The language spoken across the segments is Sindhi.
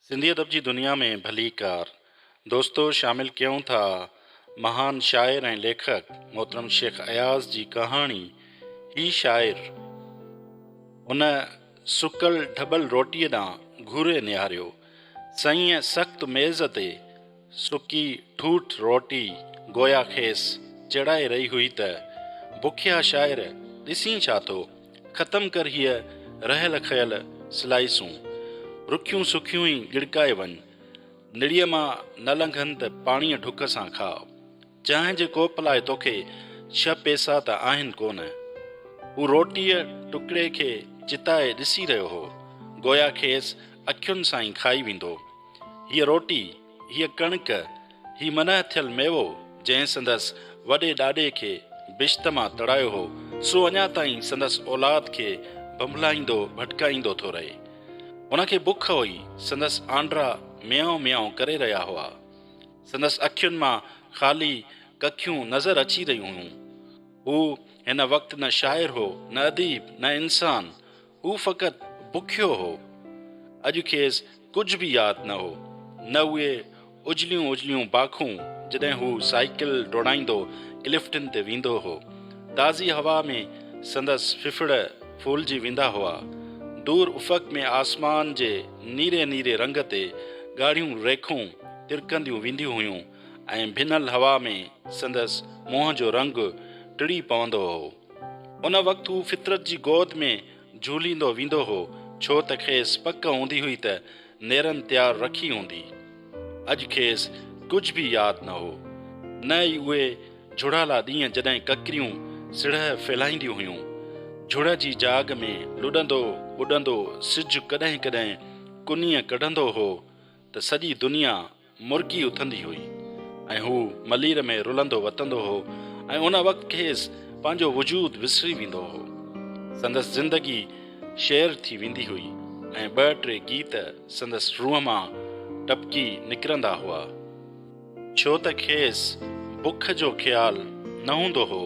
سنڌي ادب جي دنيا ۾ ڀليڪار دوستو شامل ڪيون ٿا مهان شاعر ۽ ليکڪ محترم شيخ اياز جي ڪهاڻي هي شاعر ان سڪل ڍٻل روٽيء ڏانهن گهوري نهاريو سئيء سخت ميز تي سڪي ٺوٺ روٽي گويا کيس چيڙائي رهي هئي ته، بکيا شاعر ڏسين ڇا ٿو، ختم ڪر هيء رهيل کيل سلائيسون، رکيون سکيون ئي ڳڙڪائي وڃ، نڙيء مان نه لنگهن ته پاڻيء ڍڪ سان کاء. جنهن جي ڪوپ لاء توکي ڇهه پئسا ته آهن ڪونه. هو روٽيء ٽڪڙي کي چتائي ڏسي رهيو هو، گويا کيس اکين سان ئي کائي ويندو. هيء روٽي، هيء ڪڻڪ، هي منهه ٿيل ميوو، جنهن سندس وڏي ڏاڏي کي بشت مان تڙايو هو، سو اڃا تائين سندس اولاد کي ڀنڀلائيندو ڀٽڪائيندو ٿو رهي. هن کي بک هئي، سندس آنڊرا ميائو ميائو ڪري رهيا هئا. سندس اکين مان خالي ڪکيون نظر اچي رهيون هيون. هو هن وقت نه شاعر هو، نه اديب، نه انسان. هو فقط بکيو هو. اڄ کيس ڪجهه به ياد نه هو. نه اهي اجليون اجليون باکون جڏهن هو سائيڪل ڊوڙائيندو الفٽن تي ويندو هو. تازي هوا ۾ سندس ڦڦڙ ڦولجي ويندا هئا. دور افق ۾ آسمان جي نيري نيري رنگ تي ڳاڙهيون ريکون. ترڪنديون وينديون هيون ۽ ڀنل هوا ۾ سندس منهن جو رنگ ٽڙي پوندو هو. ان وقت هو فطرت جي گود ۾ جهوليندو ويندو هو، ڇو ته کيس پڪ هوندي هئي ته نيرن تيار رکي هوندي. اڄ کيس ڪجهه به ياد نه هو، نه ئي اهي جهڙالا ڏينهن جڏهن ڪڪريون سڙهه ڦهلائينديون هيون. جهڙ جي جاڳ ۾ لڏندو اڏندو سج ڪڏهن ڪڏهن ڪنيء ڪڍندو هو ته سڄي دنيا مرڪي اٿندي هئي ۽ هو ملير ۾ رلندو وتندو هو ۽ ان وقت کيس پنهنجو وجود وسري ويندو هو. سندس زندگي شعر ٿي ويندي هئي ۽ ٻه ٽي گيت سندس روح مان ٽپڪي نڪرندا هئا. ڇو ته کيس بک جو خيال نه هوندو هو.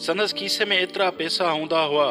سندس کيسي ۾ ايترا پئسا هوندا هئا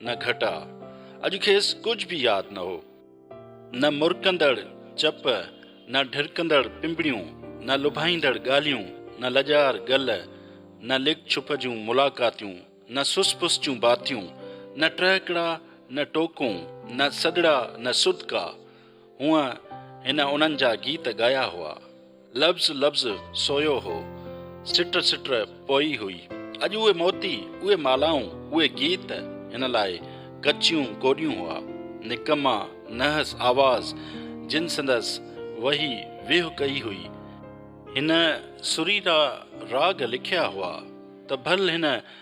نه گهٽاء، اڄ کيس ڪجهه به ياد نه هو. نه مرڪندڙ چپ، نه ڍرڪندڙ پنبڻيون، نه لڀائيندڙ ڳالهيون، نه لڄار گل، نه لڪ ڇپ جون ملاقاتيون، نه سس پس جون باتيون، نه ٽهڪڙا، نه ٽوڪون، نه سڏڙا، نه سڏڪا. هونء هن انهن جا گيت ڳايا هئا. لفظ لفظ سويو هو، سٽ سٽ پوئي هئي. اڄ اهي موتي، اهي مالائون، اهي گيت هن لاء ڪچيون ڪوڏيون هئا. نڪما نحس آواز جن سندس وهي ويهه ڪئي هئي. هن سريرا راڳ لکيا هئا ته ڀل هن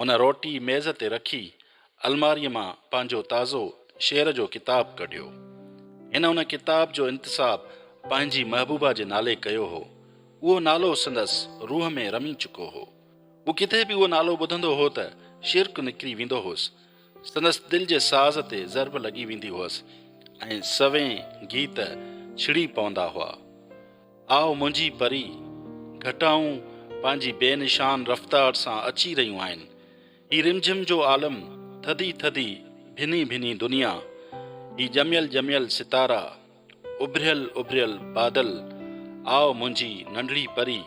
هن روٽي ميز تي رکي الماريء مان پنهنجو تازو شعر جو ڪتاب ڪڍيو. هن ان ڪتاب جو انتساب پنهنجي محبوبا جي نالي ڪيو هو. اهو نالو سندس روح ۾ رمي چڪو هو. هو ڪٿي به اهو نالو ٻڌندو هو ته شرڪ نڪري ويندو هوس. سندس دل جي ساز تي ضرب لڳي ويندي هئس ۽ سوين گيت ڇڙي پوندا هئا. آء منهنجي پري، گهٽائون پنهنجي بي نشان رفتار سان اچي رهيون آهن. هي رمجهم جو عالم، ٿڌي ٿڌي ڀني ڀني دنيا، هي ڄميل ڄميل ستارا، اڀريل اڀريل بادل، آء منهنجي ننڍڙي پري،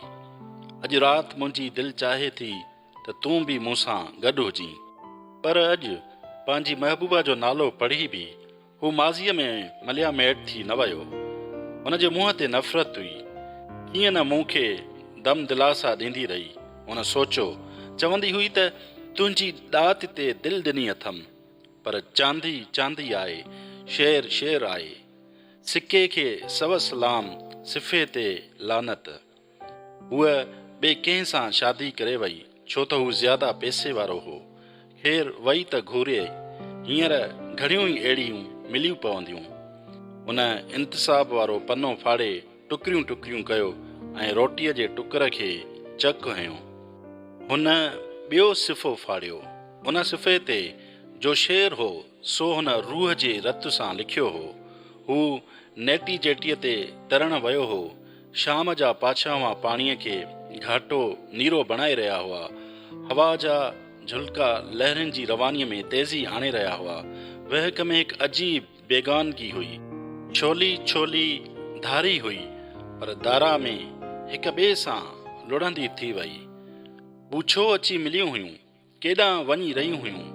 اڄ رات منهنجي دل چاهي ٿي ته تون به مون سان گڏ هجين. پر اڄ پنهنجي محبوبا جو نالو پڙهي به هو ماضيء ۾ مليا ميٽ ٿي نه ويو. هن جي منهن تي نفرت هئي. ڪيئن نه مون کي دم دلاسا ڏيندي رهي. هن سوچيو. چوندي هئي ته تنهنجي ڏات تي دل ڏني اٿم. پر چاندي چاندي آهي، شير شير آهي. سڪي کي سوس لام، صفحي تي لعنت. هوء ٻئي ڪنهن سان شادي ڪري وئي، ڇو ته هو زياده پئسي وارو هو. خير وئي ته گهوريئي، هينئر گهڻيون ئي اهڙيون مليون پونديون. هن انتساب وارو پنو ڦاڙي ٽڪريون ٽڪريون ڪيو ۽ روٽيء جي ٽڪر کي چڪ هنيو. هن ٻيو صفحو ڦاڙيو. ان صفحي تي جو شعر هو، سو هن روح جي رت سان لکيو هو. هو نيٽي جيٽيء تي ترڻ ويو هو، شام جا پاڇاوان پاڻيء کي گهاٽو نيرو بڻائي رهيا هئا. هوا جا جهلڪا لهرين جي روانيء ۾ تيزي آڻي رهيا هئا. وهڪ ۾ هڪ عجيب بيگانگي هئي. ڇولي ڇولي ڌاري هئي، پر دارا ۾ هڪ ٻئي سان لڙهندي ٿي وئي. ٻوڇو اچي مليون هيون. ڪيڏانهن وڃي رهيون هيون،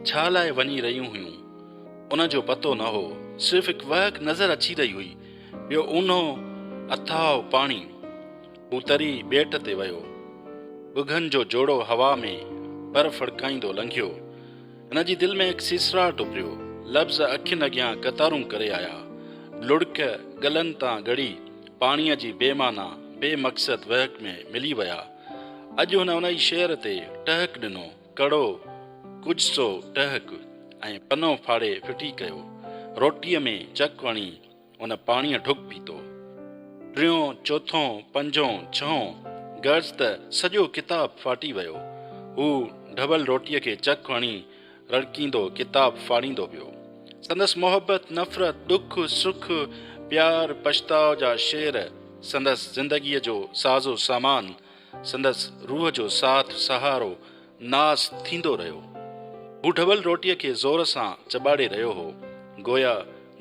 ڇا لاء وڃي رهيون هيون، ان جو پتو نه هو. صرف هڪ وهڪ نظر اچي رهي هئي، ٻيو اونهو اٿاهه پاڻي. هو تري ٻيٽ تي ويو. ڳگهن جو جوڙو هوا ۾ پر ڦڙڪائيندو لنگهيو. هن جي دل ۾ هڪ سيسراٽ اڀريو. لفظ اکين اڳيان قطارون ڪري آيا. لڙڪ ڳلن تان ڳڙي پاڻيء جي بي معنيٰ، بي مقصد وهڪ ۾ ملي ويا. اڄ هن انهي شعر تي ٽهڪ ڏنو، ڪڙو، ڪجهه سو ٽهڪ، ۽ پنو ڦاڙي ڦٽي ڪيو. روٽيء ۾ چڪ هڻي هن پاڻيء ڍڪ پيتو. ٽيون، چوٿون، پنجون، ڇهون، غرض ته سڄو ڪتاب ڦاٽي ويو. هو ڍٻل روٽيء کي چڪ هڻي رڙڪيندو ڪتاب ڦاڙيندو ويو. سندس محبت، نفرت، ڏک، سک، پيار، پڇتاء جا شعر سندس زندگيء جو سازو سامان، سندس روح جو ساٿ سهارو، ناس ٿيندو رهيو. هو ڍٻل روٽيء کي زور سان چٻاڙي رهيو هو، گويا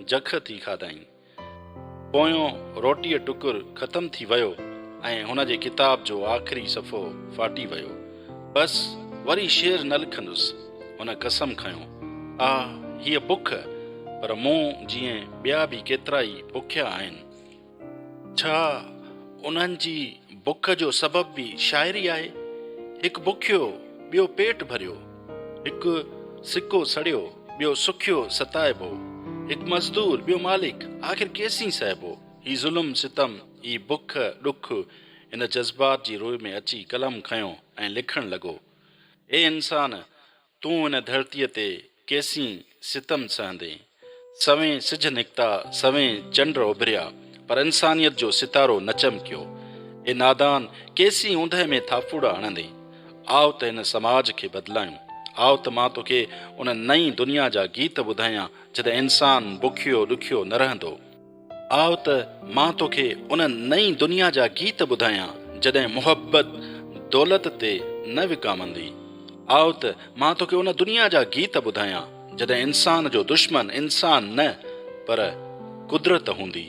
جک ٿي کاڌائين. پويون روٽيء ٽڪر ختم ٿي ويو ۽ هن جي ڪتاب جو آخري صفحو ڦاٽي ويو. بس وري شعر نه لکندس. هن قسم کنيو. آء هيء بک، پر مون جيئن ٻيا به ڪيترائي بکيا آهن. ڇا انهن جي بک جو سبب به شاعري آهي؟ هڪ بکيو، ٻيو پيٽ ڀريو، هڪ سڪو سڙيو. ٻيو سکيو ستائبو. هڪ مزدور، ٻيو مالڪ، آخر ڪيسين سهبو؟ هي ظلم ستم، هي بک ڏک. هن جذبات جي روء ۾ اچي قلم کنيو ۽ لکڻ لڳو. اي انسان! تون هن ڌرتيء تي ڪيسين ستم سهندين؟ سوين سج نڪتا، سوين چنڊ اڀريا، پر انسانيت جو ستارو نه چمڪيو. اي نادان! ڪيسين اوندهه ۾ ٿاڦوڙا هڻندين؟ آء ته هن سماج کي بدلايون. آء ته مان توکي ان نئين دنيا جا گيت ٻڌايان جتي انسان بکيو ڏکيو نه رهندو. آء ته مان توکي ان نئين دنيا جا گيت ٻڌايان جڏهن محبت دولت تي نه وڪامندي. آء ته مان توکي ان دنيا جا گيت ٻڌايان جڏهن انسان جو دشمن انسان نه پر قدرت هوندي.